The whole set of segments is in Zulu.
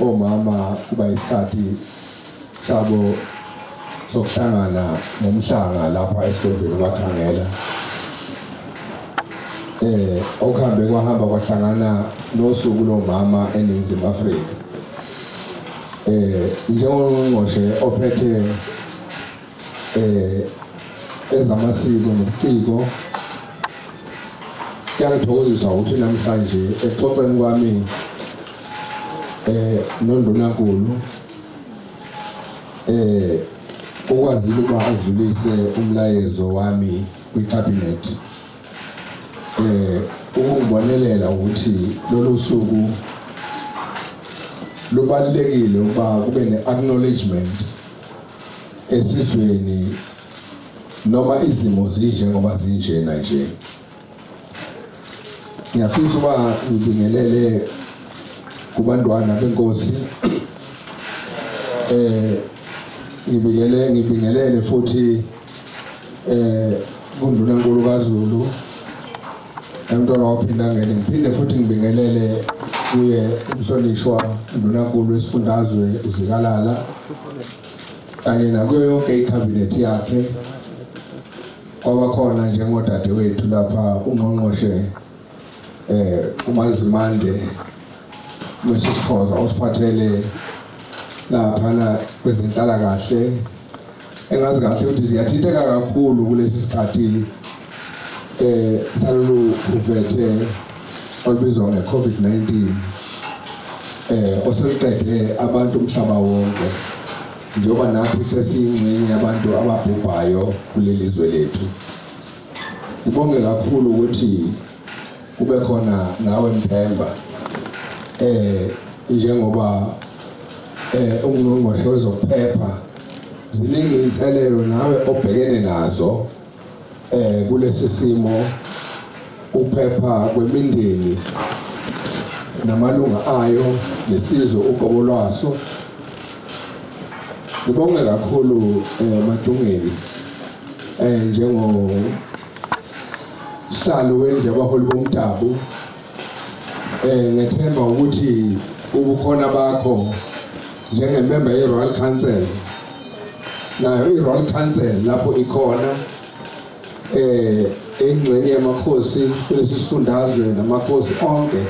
Omama kuba isikhathi sabo sokuhlangana nomhlanga lapha esigodlweni kwakhangela eh okuhambe kwahamba kwahlangana nosuku lomama eNingizimu Afrika eh njengongqongqoshe ophethe eh ezamasiko nobuciko kuyangithokozisa ukuthi namhlanje exoxweni kwami eh nondunankulu eh ukwazile ukuba adlulise umlayezo wami kwicabinet eh ukungibonelela ukuthi lolu suku lubalulekile ukuba kube ne-acknowledgement esizweni noma izimo zinje ngoba zinjena nje ngiyafisa uba ngibingelele kubantwana benkosi eh ngibingelele ngibingelele futhi eh kunduna nkulu kaZulu Emntwana waphinda ngene ngiphinde futhi ngibingelele kuye umhlonishwa ndunankulu wesifundazwe uzikalala kanye nakuyo yonke ikhabinethi yakhe kwabakhona njengodadewethu lapha ungqongqoshe eh uMazimande Moses Khoza osiphathele lapha na kwezenhlala kahle engazi kahle ukuthi ziyathinteka kakhulu kulesi sikhathi eh salolu uvethe olubizwa nge-covid-19 eh oseluqede abantu umhlaba wonke njengoba nathi sesiyingxenye yabantu ababhubhayo kuleli zwe lethu ngibonge kakhulu ukuthi kube khona nawe Mthemba eh njengoba eh ungqongqoshe wezokuphepha ziningi inselelo nawe obhekene nazo eh kulesi simo ukuphepha kwemindeni namalunga ayo nesizwe uqobo lwaso ngibonge kakhulu eh Matungeni eh njengo Sihlalo wendlu yabaholi bomdabu eh ngethemba ukuthi ubukhona bakho njengemember yeRoyal Council nayo iRoyal Council lapho ikhona eh engxenye yamakhosi kulesifundazwe namakhosi onke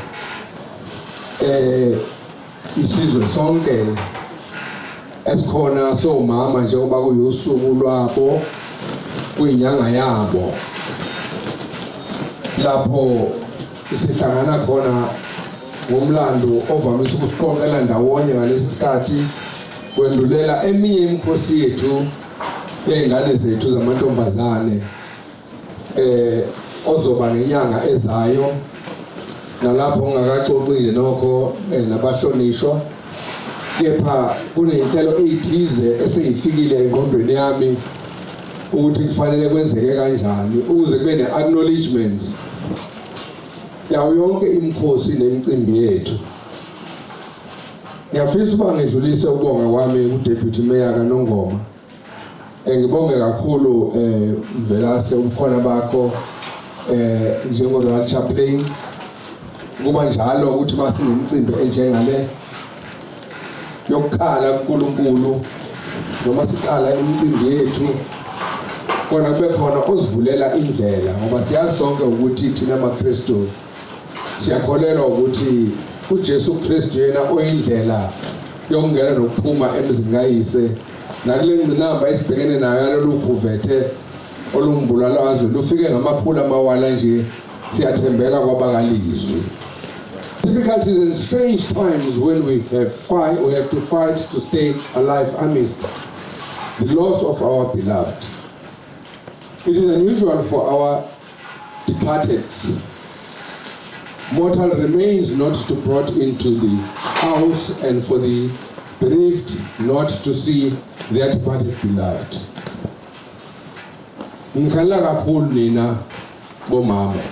eh isizwe sonke esikhona somama njengoba kuyusuku lwabo kwinyanga yabo lapho sihlangana khona ngomlando ovamise ukusiqoqela ndawonye ngalesi sikhathi kwendulela eminye imikhosi yethu yey'ngane zethu zamantombazane eh ozoba ngenyanga ezayo nalapho ngingakaxoxile nokho eh, nabahlonishwa kepha kunenhlelo ezithize eseyifikile engqondweni yami ukuthi kufanele kwenzeke kanjani ukuze kube ne-acknowledgement yawo yonke imikhosi nemicimbi yethu ngiyafisa uba ngedlulise ukubonga kwami kudeputy mayor kanongoma Eh, ngibonge kakhulu eh Mvelase ubukhona bakho eh njengo Royal Chaplain kuba njalo ukuthi basingemcimbi enjengale yokukhala kuNkulunkulu noma siqala imicimbi yethu kona kube khona osivulela indlela ngoba siyazi sonke ukuthi thina maKristu Siyakholelwa ukuthi uJesu Kristu yena oyindlela yokungena nokuphuma emzini kayise nakule ngcinamba esibhekene nayo yalolu khuvethe olumbulala wazwe lufike ngamakhulu amawala nje siyathembeka kwabakalizwi difficulties and strange times when we have fight we have to fight to stay alive amidst the loss of our beloved it is unusual for our departed mortal remains not to brought into the house and for the bereaved not to see their departed beloved ngikhalela kakhulu nina bomama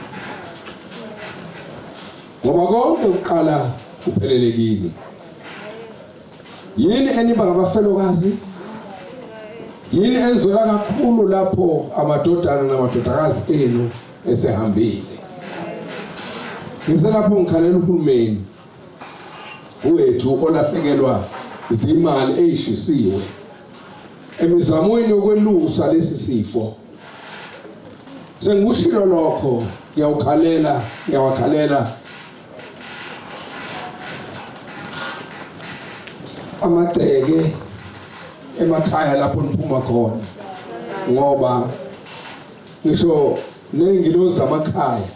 ngoba konke kuqala kuphelele kini Yini eniba ngabafelokazi? Yini enizwela kakhulu lapho amadodana namadodakazi enu esehambile? Ngiselapho ngikhalela uhulumeni wethu olahlekelwa zimali eyishisiwe emizamweni yokwelusa lesi sifo sengikushilo lokho ngiyawukhalela ngiyawakhalela amagceke emakhaya lapho niphuma khona ngoba ngisho nezingilozi zamakhaya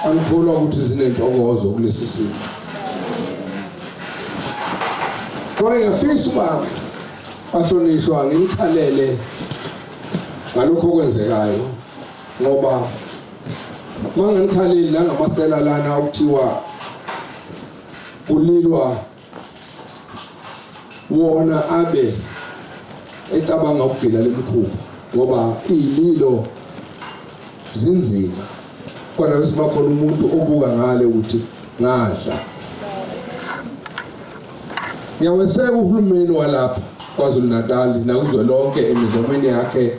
angikholwa ukuthi zinentokozo kulesi simo kodwa ngiyafisa uba bahlonishwa ngimkhalele ngalokho okwenzekayo ngoba Manganikhaleli la ngamasela lana okuthiwa kulilwa wona abe ecabanga ukugila lemkhuba ngoba ililo zinzima kodwa bese bakhona umuntu obuka ngale ukuthi ngadla ngiyaweseka uhulumeni walapha KwaZulu-Natal nakuzwe lonke emizomeni yakhe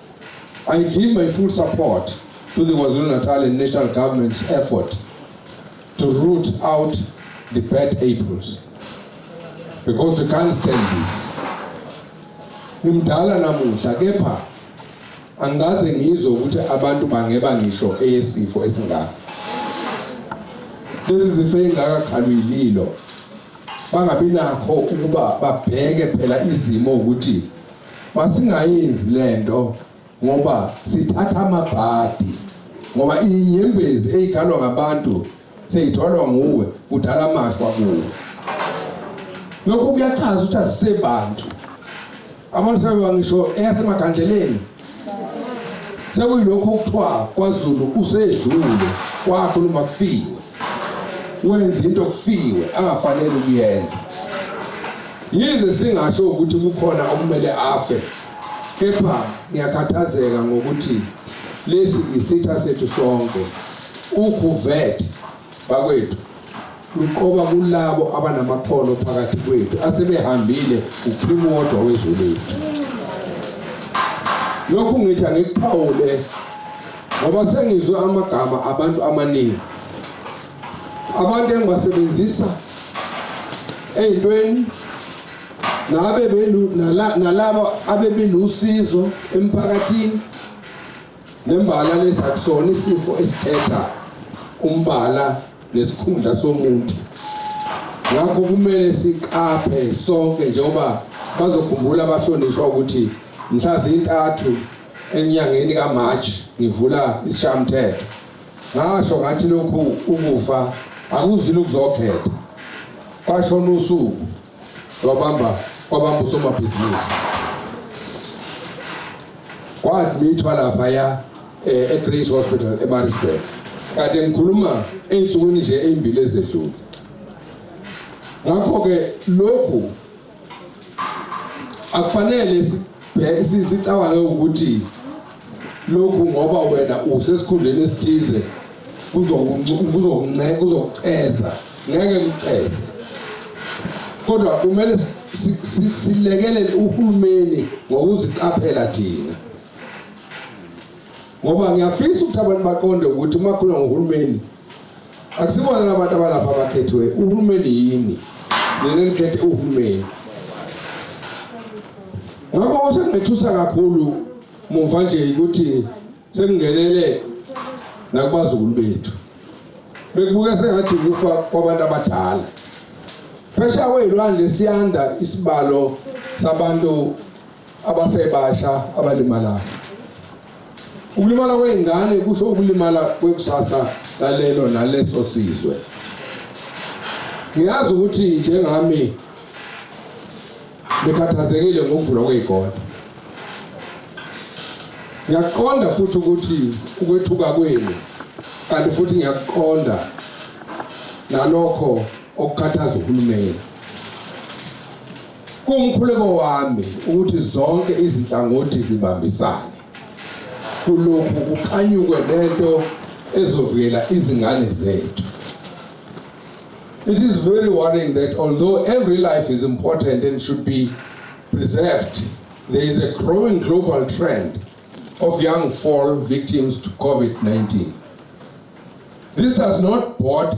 I give my full support to the KwaZulu-Natal and national government's effort to root out the bad apples because we can't stand this. Ngimdala namuhla kepha angikaze ngizwe ukuthi abantu bangeba ngisho eyesifo esingaka. Lezi zifo engaka khalwililo bangabi nakho ukuba babheke phela izimo ukuthi Masingayenzi lento ngoba sithatha amabhadi ngoba inyembezi eyigalwa ngabantu seyitholwa nguwe kudala amashwa kuwe lokho kuyachaza ukuthi asisebantu abantu sebeba ngisho eyasemagandleleni sekuyilokho okuthiwa kwazulu usedlule kwakhuluma kufiwe wenza into okufiwe angafanele ukuyenza yize singasho ukuthi kukhona okumele afe kepha ngiyakhathazeka ngokuthi lesi isitha sethu sonke ukhuvethe bakwethu luqoba kulabo abanamakhono phakathi kwethu asebehambile uphuma wodwa wezwe lethu lokhu ngithi angikuphawule ngoba sengizwe amagama abantu amaningi abantu engibasebenzisa ey'ntweni nabe nalabo abebilusizo emphakathini nembala lesi akusona isifo esikhetha umbala nesikhundla somuntu ngakho kumele siqaphe sonke njengoba bazokhumbula abahlonishwa ukuthi mhla zintathu enyangeni kaMarch ngivula isishamthetho ngasho ngathi lokhu ukufa akuzile ukuzokhetha kwashona usuku lwabamba kwabamba usomabhizinisi kwadmithwa lapha ya eh, eGrace Hospital eMaritzburg kade ngikhuluma ey'nsukwini nje ey'mbili ezedlule ngakho-ke lokhu akufanele sicabange ukuthi lokhu ngoba wena usesikhundleni esithize kuzokunceka kuzokuceza ngeke kuceze kodwa kumele silekelele uhulumeni ngokuziqaphela thina ngoba ngiyafisa ukuthi abantu baqonde ukuthi uma khuluma ngohulumeni akusibona labantu abalapha abakhethiwe uhulumeni yini nina nikhethe uhulumeni ngakho osengethusa kakhulu muva nje ukuthi sekungenele nakubazukulu bethu bekubuka sengathi kufa kwabantu abadala phesha kweyilwandle siyanda isibalo sabantu abasebasha abalimalayo Ukulimala kwey'ngane kusho ukulimala kwekusasa lalelo naleso sizwe. Ngiyazi ukuthi njengami nikhathazekile ngokuvulwa kwey'kole. Ngiyaqonda futhi ukuthi ukwethuka kwenu kanti futhi ngiyaqonda nalokho okukhathaza uhulumeni. Kuwumkhuleko wami ukuthi zonke izinhlangothi zibambisane kulokhu kuqhanyukwe nento ezovikela izingane zethu. It is very worrying that although every life is important and should be preserved, there is a growing global trend of young fall victims to COVID-19. This does not bode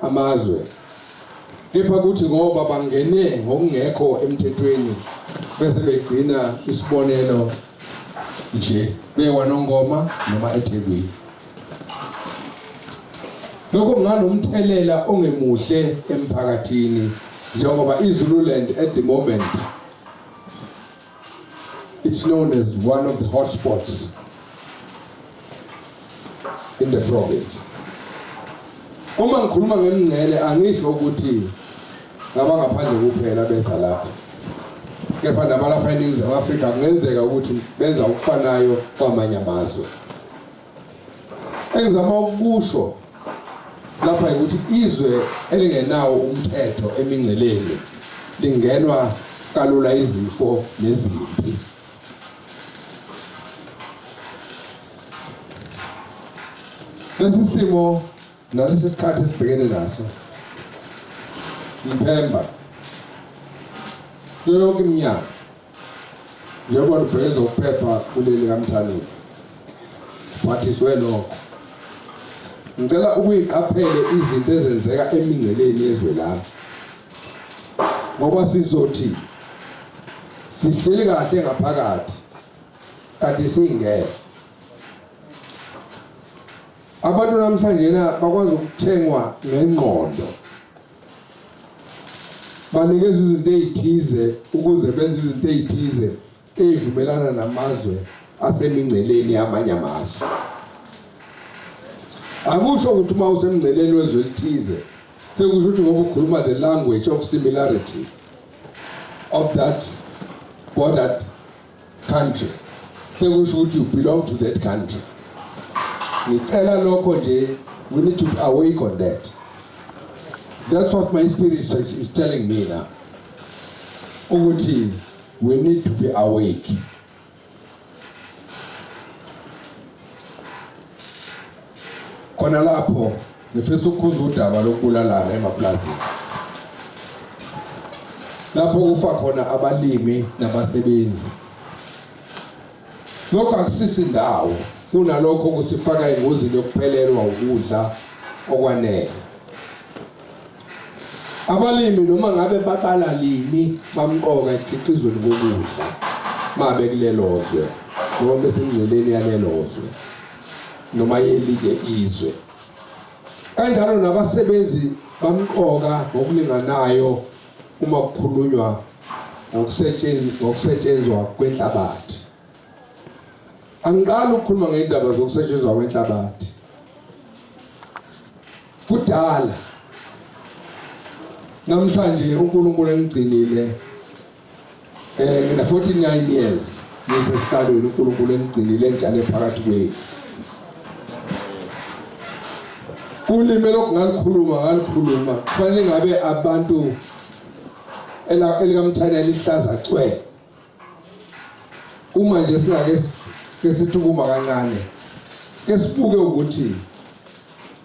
amazwe kepha kuthi ngoba bangene ngokungekho emthethweni bese begcina isibonelo nje bewanongoma noma eThekwini lokho kunganomthelela ongemuhle emphakathini njengoba iZululand at the moment It's known as one of the hotspots in the province. Uma ngikhuluma ngemngcele angisho ukuthi ngabangaphandle kuphela beza lapha. Kepha nabalapha eNingizimu Afrika kungenzeka ukuthi benza okufanayo kwamanye amazwe. Engizama ukusho lapha ukuthi izwe elingenawo umthetho emingceleni lingenwa kalula izifo nezimpi lesi simo nalesi sikhathi esibhekene naso ngithemba yonke iminyaka njengoba lubheke zokuphepha kuleli kamthaniya phathiswe lokho ngicela ukuyiqaphele izinto ezenzeka emingceleni yezwe lami ngoba sizothi sihleli kahle ngaphakathi kanti singeke abantu namhlanje na bakwazi ukuthengwa ngengqondo banikeza izinto ezithize ukuze benze izinto ezithize ezivumelana namazwe asemingceleni yamanye amazwe akusho ukuthi uma usemngceleni wezwe elithize sekusho ukuthi ngoba ukhuluma the language of similarity of that bordered country sekusho ukuthi you belong to that country ngicela lokho nje we need to be awake on that that's what my spirit is, is telling me now ukuthi we need to be awake khona lapho Ngifisa ukukhuza udaba lokubulalana emaplazini lapho kufa khona abalimi nabasebenzi. Lokho akusisi ndawo kunalokho kusifaka engozini yokuphelelwa ukudla okwanele. Abalimi noma ngabe babala lini bamqoka ekhiqizweni kokudla mabe kulelozwe noma besengceleni yalelozwe noma yelike izwe. kanjalo nabasebenzi bamqoka ngokulinganayo uma kukhulunywa ngokusetshenzwa kwenhlabathi angiqali ukukhuluma ngendaba zokusetshenzwa kwenhlabathi kudala namhlanje uNkulunkulu engigcinile Eh ngina 49 years ngisesihlalweni uNkulunkulu engigcinile njalo phakathi kwethu. Ulimi lokungalikhuluma ngalikhuluma kufanele ngabe abantu ela elikamthana lihlaza cwe. Uma nje singake kesithukuma kancane. Kesibuke ukuthi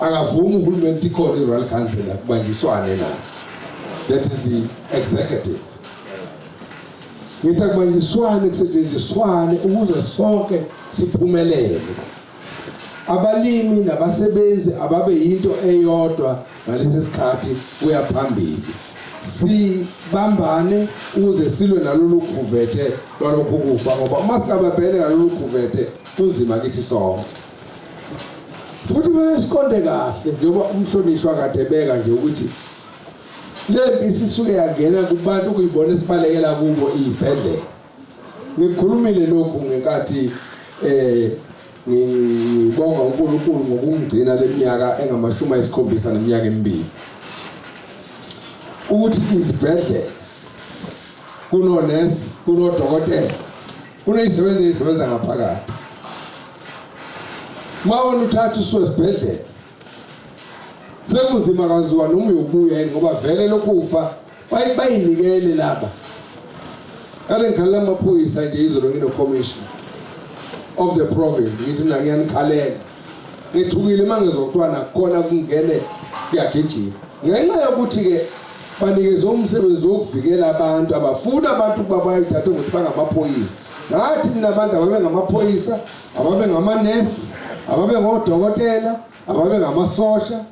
akavumi uhulumeni ukuthi ikhona i-royal council akubanjiswane nayo that is the executive ngithi akubanjiswane kusetshenziswane ukuze sonke siphumelele abalimi nabasebenzi ababe yinto eyodwa ngalesi sikhathi kuya phambili sibambane ukuze silwe nalolu khuvethe lwalokhu kufa ngoba uma singababhele ngalolu khuvethe kunzima kithi sonke futhi kumele siqonde kahle njengoba umhlonishwa kade beka nje ukuthi lempi isisuke yangena kubantu kuyibona esibalekela kubo izibhedlela ngikhulumile lokhu ngenkathi eh ngibonga uNkulunkulu ngokungigcina leminyaka engamashumi ayisikhombisa neminyaka emibili ukuthi izibhedlela kunonesi kunodokotela Kunezisebenzi ezisebenza ngaphakathi. Mawona uthatha usuke esibhedlela. Sekunzima kaziwa noma uyobuya yini ngoba vele lokufa bayinikele laba. Kade ngikhalela amaphoyisa nje izolo ngino commissioner of the province ngithi mina ngiyanikhalela ngithukile uma ngizwa kuthiwa nakhona kungene kuyagijima ngenxa yokuthi-ke banikeze umsebenzi wokuvikela abantu abafuni abantu ukuba bayithathe ukuthi bangamaphoyisa ngathi mina abantu ababengamaphoyisa ababengamanesi ababengodokotela ababengamasosha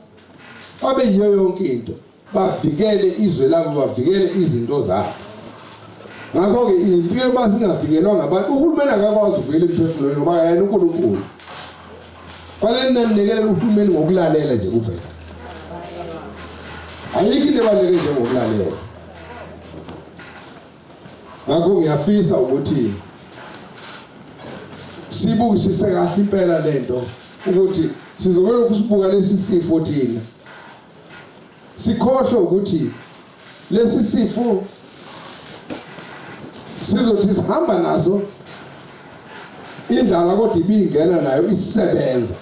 babeyiyo yonke into bavikele izwe labo bavikele izinto zabo ngakho-ke impi yoba singavikelwa ngabantu uhulumeni akakwazi ukuvikela imiphefumulo yenu ngoba yena unkulunkulu fanele ninamnikelele uhulumeni ngokulalela nje kuphela ayikho into ebaluleke njengokulalela ngakho ngiyafisa ukuthi sibukisise kahle impela lento ukuthi sizobelokhu sibuka lesi sifo thina sikhohlwe ukuthi lesi sifo sizothi sihamba naso indlala kodwa ibingena nayo isebenza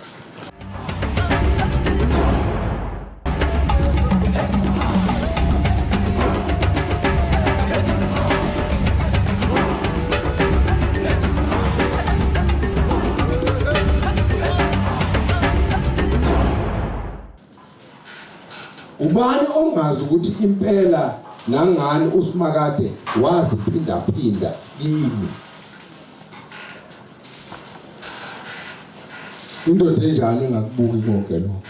Ubani ongazi ukuthi impela nangani uSimakade waziphindaphinda kimi. Indoda enjani engakubuki konke lokho?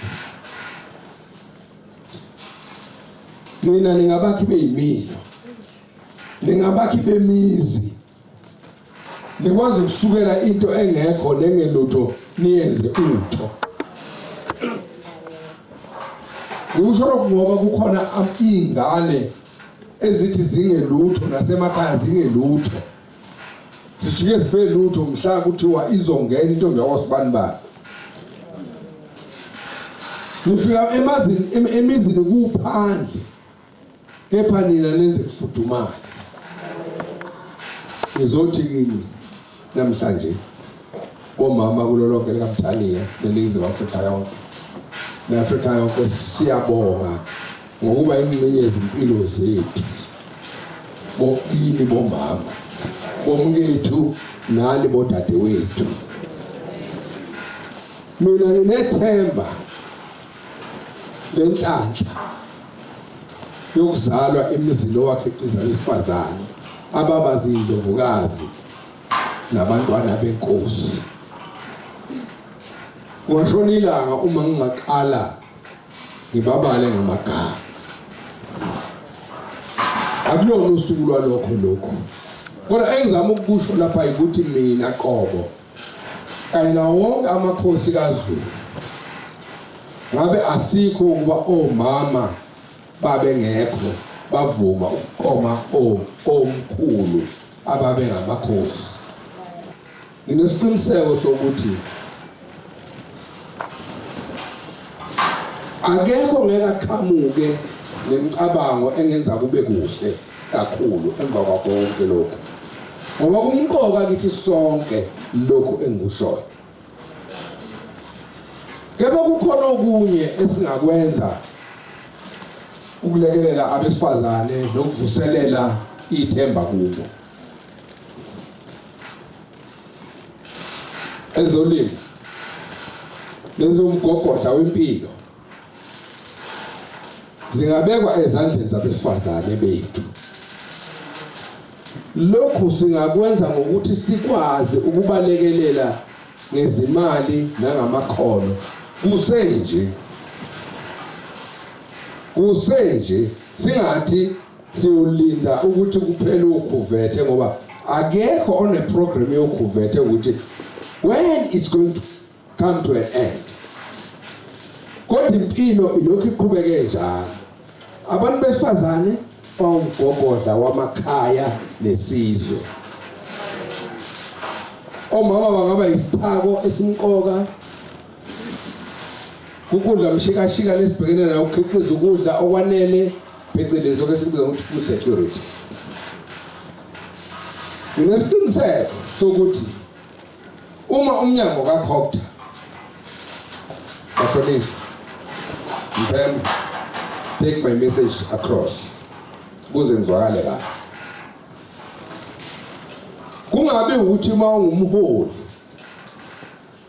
Nina ningabakhi beyimilo. Ningabakhi bemizi. nikwazi ukusukela into engekho nengelutho niyenze utho ngikusho lokhu ngoba kukhona iy'ngane ezithi zingelutho nasemakhaya zingelutho sijike sibe lutho mhla kuthiwa izongena intombi yakwasibani bani nifika emazini emizini kuphandle kepha nina nenze kufudumala ngizothi kini namhlanje bomama kulo lonke likamthaniya neningizimu afrika yonke ne-afrika yonke siyabonga ngokuba ingxenye yezimpilo zethu bokini bomama bomkethu nani bodadewethu mina nginethemba lenhlanhla yokuzalwa emizini owakhiqiza abesifazane ababa ziyindovukazi nabantwana benkosi kwashona ilanga uma ngingaqala ngibabale ngamagama akulona usuku lwalokho lokho kodwa engizama ukukusho lapha ukuthi mina qobo kanye nawo wonke amakhosi kaZulu ngabe asikho ukuba omama babengekho bavuma ukuqoma omkhulu ababengamakhosi nginesiqiniseko sokuthi akekho ngeke aqhamuke nemicabango engenza kube kuhle kakhulu emva kwakho konke lokhu ngoba kumqoka kithi sonke lokhu engikushoyo kepha kukhona okunye esingakwenza ukulekelela abesifazane nokuvuselela ithemba kubo ezolimo lezomgogodla wempilo zingabekwa ezandleni zabesifazane bethu lokhu singakwenza ngokuthi sikwazi ukubalekelela ngezimali nangamakhono kusenje kusenje singathi siyolinda ukuthi kuphele ukhuvethe ngoba akekho oneprogram yokhuvethe ukuthi when it's going to come to an end kodwa impilo ilokhu iqhubeke njalo abantu besifazane bawumgogodla wamakhaya nesizwe omama bangaba isithako esimqoka Kukudla mshikashika lesibhekene nayo ukukhiqiza ukudla okwanele phecelezi lokho esikubiza ukuthi food security. Nginesiqiniseko sokuthi uma umnyango kaCogta bahlonishwa Mpembe take my message across kuze ngizwakale la kungabe ukuthi uma ungumholi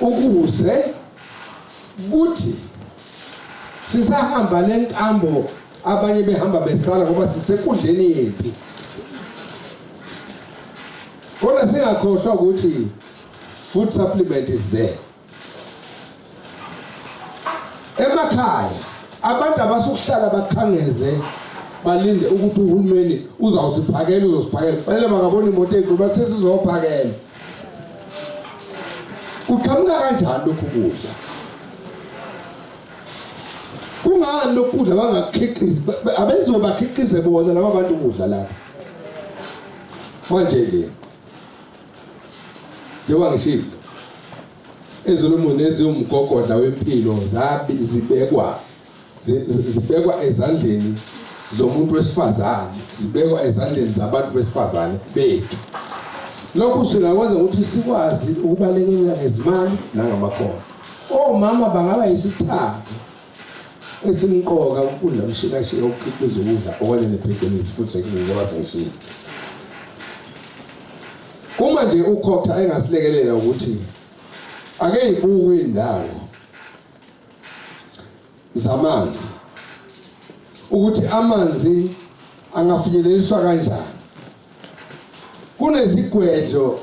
ukuze kuthi sisahamba lenkambo abanye behamba besala ngoba sisekudleni yempi kodwa singakhohlwa ukuthi food supplement is there emakhaya abantu abasukuhlala bakhangeze balinde ukuthi uhulumeni uzawusiphakela uzosiphakela fanele bangabona imoto enkulu bathi sesizophakela kuqhamuka kanjani lokhu kudla kungani lokhu kudla bangakhiqizi abenziwe bakhiqize bona laba bantu kudla lapha manje ke njengoba ngishilo ezolumuni eziwumgogodla wempilo zabi zibekwa zibekwa ezandleni zomuntu wesifazane zibekwa ezandleni zabantu besifazane bethu lokhu singakwenza ukuthi sikwazi ukubalekelela ngezimali nangamakhono omama bangaba yisithako esimqoka ukudla mshikashika ukukhiqiza ukudla okanye nephecelezi futhi sekunjengoba sengishilo uma nje ukhotha engasilekelela ukuthi ake yibuke indawo zamanzi ukuthi amanzi angafinyeleliswa kanjani kunezigwedlo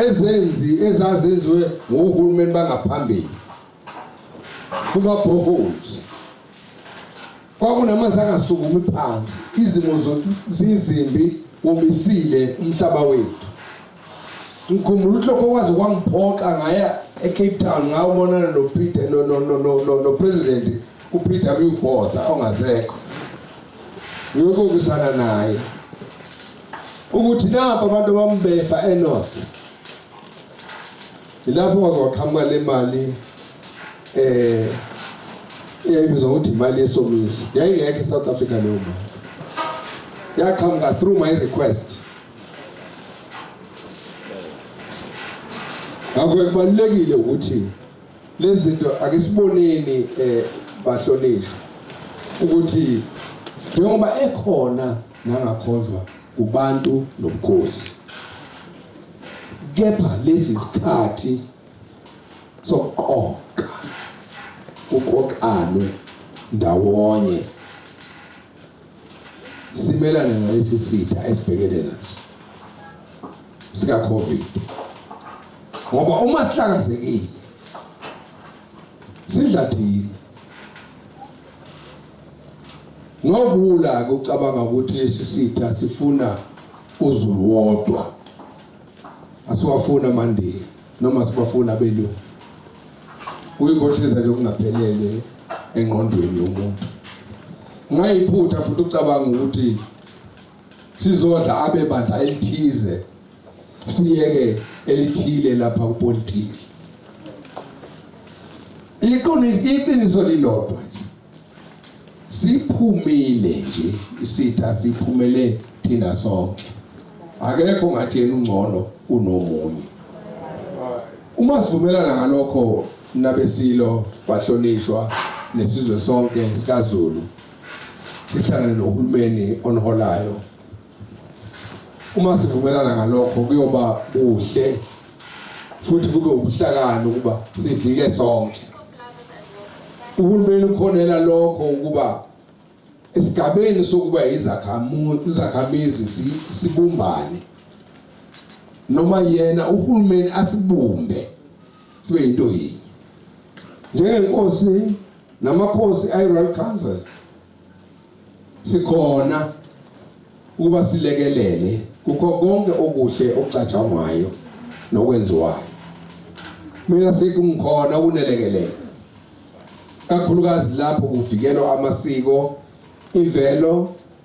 ezenzi ezazenziwe ngohulumeni bangaphambili kuma boreholes Kwakunamanzi angasukumi phansi, izimo zizimbi, womisile umhlaba wethu. Ngikhumbula uhloko kwaze kwangiphoqa ngaya eCape Town ngawubonana noPeter no no no no no president uPeter Botha ongasekho. Ngiyokokusana naye. Ukuthi nabo abantu bambefa eNorth Yilapho waze waqhamuka le mali eh eyayibizwa ukuthi imali yesomiso yayingekho eSouth Africa leyo mali yaqhamuka through my request ngakho kubalulekile ukuthi lezi zinto ake siboneni eh bahlonishwa ukuthi njengoba ekhona nangakhonjwa kubantu nobukhosi kepha lesi sikhathi sokuqoqa kuqoqanwe ndawonye simelane nalesi sitha esibhekene naso sika covid ngoba uma sihlakazekile sidla thina Ngobula kucabanga ukuthi lesi sitha sifuna uZulu wodwa. Asiwafuna amandiya noma sibafuna abelungu. Kuyikhohliza nje okungaphelele engqondweni yomuntu. Ngayiphutha futhi ucabanga ukuthi sizodla abe bandla elithize siyeke elithile lapha kupolitiki iqiniso iqiniso lilodwa nje siphumile nje isitha siphumele thina sonke akekho ngathi yena ungcono kunomunye uma sivumelana ngalokho nabesilo bahlonishwa nesizwe sonke sikaZulu sihlangane nohulumeni oniholayo uma sivumelana ngalokho kuyoba kuhle futhi kube ubuhlakani ukuba sivike sonke uhulumeni ukhonela lokho ukuba esigabeni sokuba izakhamizi sibumbane noma yena uhulumeni asibumbe sibe yinto yinye njengenkosi namakhosi iRoyal Council sikhona ukuba silekelele kukho konke okuhle okucatshangwayo nokwenziwayo mina sekungikhona ukunelekelela kakhulukazi lapho kuvikelwa amasiko imvelo